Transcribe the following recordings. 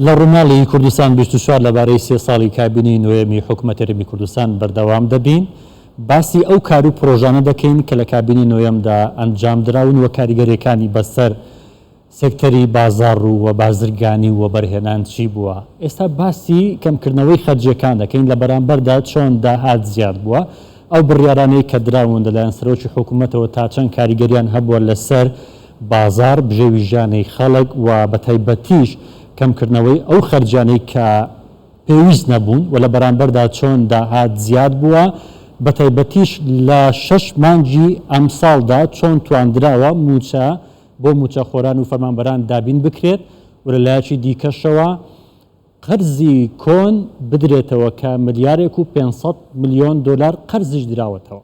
لە ڕوماڵی کوردستان بیست و چوار لەبارەی سێ ساڵی کابینەی نۆیەمی حکومەت هەرێمی کوردستان بەردەوام دەبین باسی ئەو کار و پرۆژانە دەکەین کە لە کابینەی نۆیەمدا ئەنجام دراون و کاریگەریەکانی بەسەر سێکتەری بازاڕ و و بازرگانی و وەبەرهێنان چی بووە. ئێستا باسی کەمکردنەوەی خەرجیەکان دەکەین لە بەرامبەردا چۆن داهات زیاد بووە، ئەو بڕیارانەی کە دراون لەلایەن سەرۆکی حکومەتەوە تا چەند کاریگەریان هەبووە لەسەر بازاڕ، بژێویژانەی خەڵک و بە تایبەتیش کەمکردنەوەی ئەو خەرجیانەی کە پێویست نەبوون و لە بەرامبەردا چۆن داهات زیاد بووە، بە تایبەتیش لە شەش مانگی ئەمساڵدا چۆن تواندراوە مووچە بۆ مووچەخۆران و فەرمانبەران دابین بکرێت و لە لایەکی دیکەشەوە قەرزی کۆن بدرێتەوە کە ملیارێک و پێنج سەد ملیۆن دۆلار قەرزیش دراوەتەوە.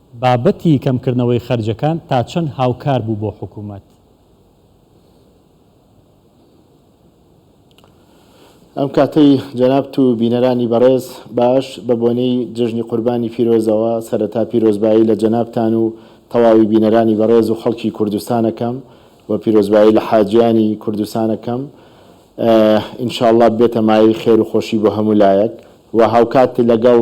بابەتی کەمکردنەوەی خەرجەکان تا چەند هاوکار بوو بۆ حکوومەت؟ ئەم کاتەی جەنابت و بینەرانی بەڕێز باش بە بۆنەی جەژنی قوربانی پیرۆزەوە سەرەتا پیرۆزبایی لە جەنابتان و تەواوی بینەرانی بەڕێز و خەڵکی کوردستان ئەکەم و پیرۆزبایی لە حاجیانی کوردستان ئەکەم ئینشاڵڵا ببێتە مایەی خێر و خۆشی بۆ هەموو لایەک و هاوکات لەگەڵ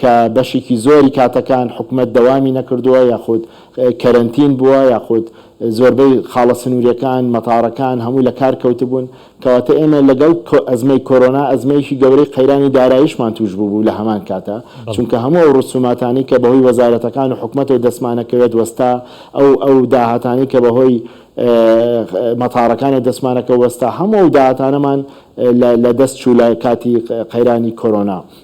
کە بەشێکی زۆری کاتەکان حکومەت دەوامی نەکردووە یاخود کەرەنتین بووە یاخود زۆربەی خاڵە سنووریەکان، مەتاڕەکان هەمووی لە کار کەوتبوون، کەواتە ئێمە لەگەڵ ئەزمەی کۆرۆنا ئەزمەیەکی گەورەی قەیرانی داراییشمان تووش بووبوو لە هەمان کاتا، چونکە هەموو ئەو ڕسووماتانەی کە بەهۆی وەزارەتەکان و حکومەتەوە دەستمانەکەوێت وەستا، ئەو ئەو داهاتانەی کە بەهۆی مەتاڕەکانەوە دەستمانەکەوت وەستا، هەموو ئەو داهاتانەمان لە لەدەست چوو لە کاتی قەیرانی کۆرۆنا.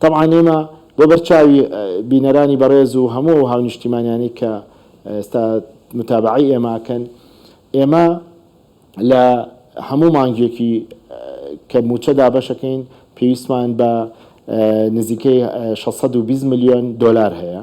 تەبعەن ئێمە بۆ بەر چاوی بینەرانی بەڕێز و هەموو ئەو هاونیشتیمانیانەی کە ئێستا متابەعەی ئێمە ئەکەن ئێمە لە هەموو مانگێکی کە مووچە دابەش ئەکەین پێویستمان بە نزیکەی شەش سەد و بیست ملیۆن دۆلار هەیە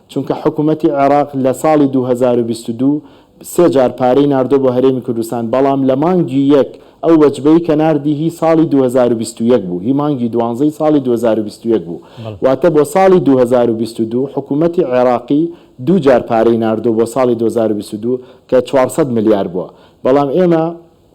چونکە حکومەتی عێراق لە ساڵی دوو هەزار و بیست و دوو سێ جار پارەی ناردووە بۆ هەرێمی کوردستان، بەڵام لە مانگی یەک ئەو وەجبەی کە ناردی هی ساڵی دوو هەزار و بیست و یەک بوو، هی مانگی دوانزەی ساڵی دوو هەزار و بیست و یەک بوو، واتە بۆ ساڵی دوو هەزار و بیست و دوو حکومەتی عێراقی دوو جار پارەی ناردووە بۆ ساڵی دوو هەزار و بیست و دوو کە چوار سەد ملیار بووە، بەڵام ئێمە.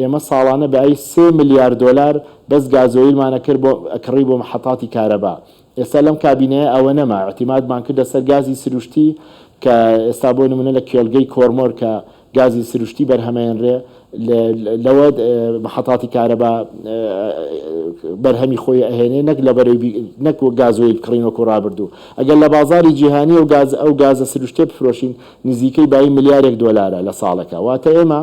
ئێمە ساڵانە بە ای سێ ملیار دۆلار بەس گازۆیلمان ئەکرد بۆ ئەکڕی بۆ محەتاتی کارەبا ئێستا لەم کابینەیە ئەوە نەما ئیعتیمادمان کردە سەر گازی سروشتی کە ئێستا بۆ نمونە لە کێلگەی کۆرمۆر کە گازی سروشتی بەرهەمەێنرێ لەوە محەتاتی کارەبا بەرهەمی خۆی ئەهێنێ نەک لە بەرەی نەک و گازۆیل بکڕین وەکو ڕابردوو ئەگەر لە بازاری جیهانی و گاز ئەو گازە سروشتێ بفرۆشین نزیکەی بایی ملیارێک دۆلارە لە ساڵەکە واتە ئێمە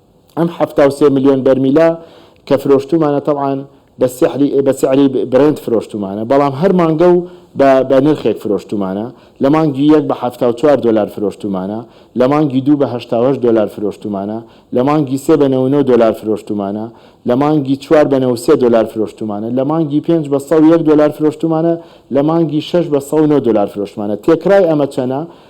ئەم حەفتا و سێ ملیۆن بەرمیلە کە فرۆشتومانە تەبعەن بە سیحری بە سعری برێنت فرۆشتومانە بەڵام هەر مانگە و بە بە نرخێک فرۆشتومانە لە مانگی یەک بە حەفتا و چوار دۆلار فرۆشتومانە لە مانگی دوو بە هەشتا و هەشت دۆلار فرۆشتومانە لە مانگی سێ بە نەوە و نۆ دۆلار فرۆشتومانە لە مانگی چوار بە نەوە و سێ دۆلار فرۆشتومانە لە مانگی پێنج بە سەد و یەک دۆلار فرۆشتومانە لە مانگی شەش بە سەد و نۆ دۆلار فرۆشتومانە تێکرای ئەمە چەنە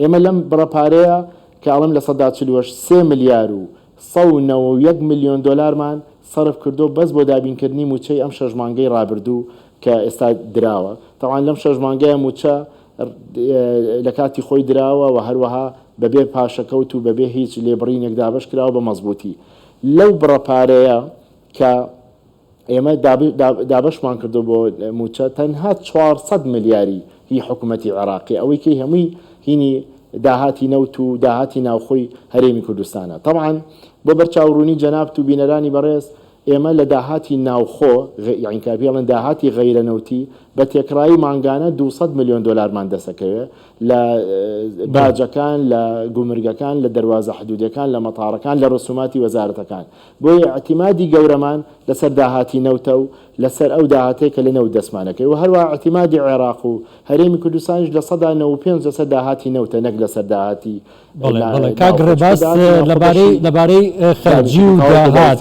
ئێمە لەم بڕە پارەیە کە ئەڵێم لە سەدا چل و هەشت، سێ ملیار و سەد و نەوە و یەک ملیۆن دۆلارمان سەرف کردووە بەس بۆ دابینکردنی مووچەی ئەم شەش مانگەی رابردوو کە ئێستا دراوە. تەبعەن لەم شەش مانگەیە مووچە لە کاتی خۆی دراوە و هەروەها بەبێ پاشەکەوت و بەبێ هیچ لێبڕینێک دابەش کراوە بە مەزبووتی. لەو بڕە پارەیە کە ئێمە دابەشمان کردوە بۆ موچە تەنها چوار سەد ملیاری هی حکومەتی عێراقە ئەوەی کەی هەمووی هینی داهاتی نەوت و داهاتی ناوخۆی هەرێمی کوردستانە تەبعەن بۆ بەرچاو ڕوونی جەنابت و بینەرانی بەڕێز ئێمە لە داهاتی ناوخۆ یانی کە پێڵێن داهاتی غەیرە نەوتی بە تێکڕایی مانگانە دوو سەد ملیۆن دۆلارمان دەسەکەوێ لە باجەکان لە گومرگەکان لە دەروازە حدودەکان لە مەتاڕەکان لە ڕسوماتی وەزارەتەکان بۆیە ئیعتیمادی گەورەمان لەسەر داهاتی نەوتە و لەسەر ئەو داهاتەی کە لە نەوت دەستمان دەکەوێت و هەروەها ئیعتیمادی عێراق و هەرێمی کوردستانیش لە سەدا نەوەد و پێنج لەسەر داهاتی نەوتە نەک لەسەر داهاتی بەڵێ بەڵێ کاک ڕێباز لەبارەی لەبارەی خەرجی و داهات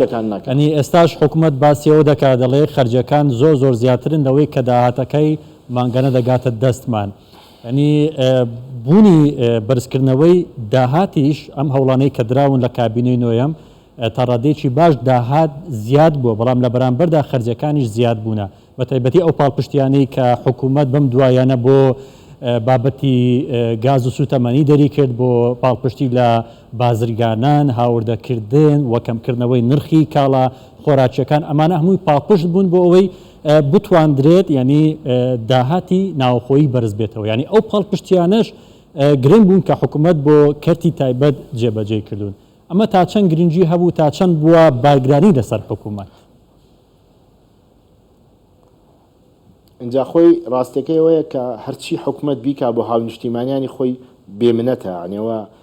ئەنی ئێستاش حکوومەت باسی ئەوە دەکات دەڵێ خەرجەکان زۆر زۆر زیاترن لەوەی کە داهاتەکەی مانگانە دەگاتە دەستمان. یانی بوونی بەرزکردنەوەی داهاتیش، ئەم هەوڵانەی کە دراون لە کابینەی نۆیەم، تا ڕادەیەکی باش داهات زیاد بووە، بەڵام لە بەرامبەردا خەرجیەکانیش زیاد بوونە، بە تایبەتی ئەو پاڵپشتیانەی کە حکومەت بەم دواییانە بۆ بابەتی گاز و سوتەمەنی دەری کرد، بۆ پاڵپشتی لە بازرگانان، هاوردەکردن و کەمکردنەوەی نرخی کاڵا خۆراکیەکان، ئەمانە هەمووی پاڵپشت بوون بۆ ئەوەی بتواندرێت یانی داهاتی ناوەخۆیی بەرز بێتەوە یانی ئەو پاڵپشتیانەش گرنگ بوون کە حکومەت بۆ کەرتی تایبەت جێبەجێی کردوون ئەمە تا چەند گرنگی هەبوو تا چەند بووە بارگرانی لەسەر حکومەت ئینجا خۆی ڕاستەکەی ئەوەیە کە هەرچی حکومەت بیکا بۆ هاونیشتیمانیانی خۆی بێمنەتە یانێوە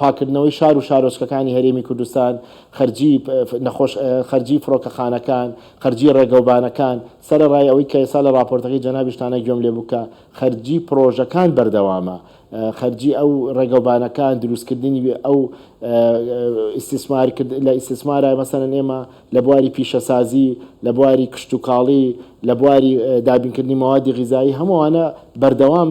پاککردنەوەی شار و شارۆچکەکانی هەرێمی کوردستان، خەرجی نەخۆش، خەرجی فڕۆکەخانەکان، خەرجی ڕێگەوبانەکان، سەرەڕای ئەوەی کە ئێستا لە ڕاپۆرتەکەی جەنابیشتانە گوێم لێ بوو کە خەرجی پڕۆژەکان بەردەوامە، خەرجی ئەو ڕێگەوبانەکان، دروستکردنی ئەو ئیستیسمار کرد، لە ئیستیسمارە مەسەلەن ئێمە لە بواری پیشەسازی، لە بواری کشتوکاڵی، لە بواری دابینکردنی مەوادی غیزایی، هەموو ئەوانە بەردەوام.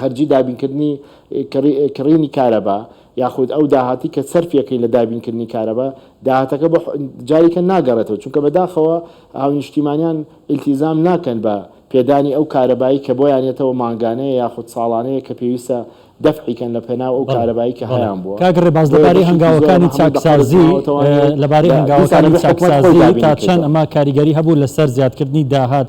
خەرجی دابینکردنی کڕینی کارەبا یاخود ئەو داهاتی کە سەرفیەکەی لە دابینکردنی کارەبا داهاتەکە بۆ جاریکە ناگەڕێتەوە چونکە بەداخەوە هاونیشتیمانیان ئیلتیزام ناکەن بە پێدانی ئەو کارەبایی کە بۆیان یەتەوە مانگانەیە یاخود ساڵانەیە کە پێویستە دەفعی کەن لە پێناو ئەو کارەبایی کە هەیان بووە. کاک ڕێباز لەبارەی هەنگاوەکانی چاکسازی لەبارەی هەنگاوەکانی چاکسازی تا چەند ئەمە کاریگەری هەبوو لەسەر زیادکردنی داهات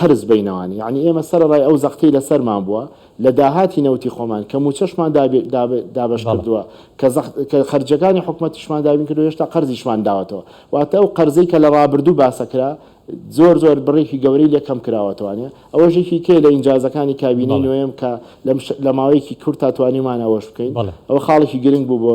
قەرز بەینەوان یەعنی ئێمە سەرەڕای ئەو زەختەی لەسەرمان بووە لە داهاتی نەوتی خۆمان کە مووچەشمان دابەش کردووە کە کە خەرجەکانی حکومەتیشمان دابین کردو هێشتا قەرزیشمان داوەتەوە واتە ئەو قەرزەی کە لە ڕابردوو باسەکرا زۆر زۆر بڕێکی گەورەی لێ کەم کراوەتوانێ ئەوەشێکی کێ لە ئینجازەکانی کابینەی نوێم کە لە ماوەیەکی کورت تاتوانیمان ئەوەش بکەین ئەوە خاڵێکی گرنگ بوو بۆ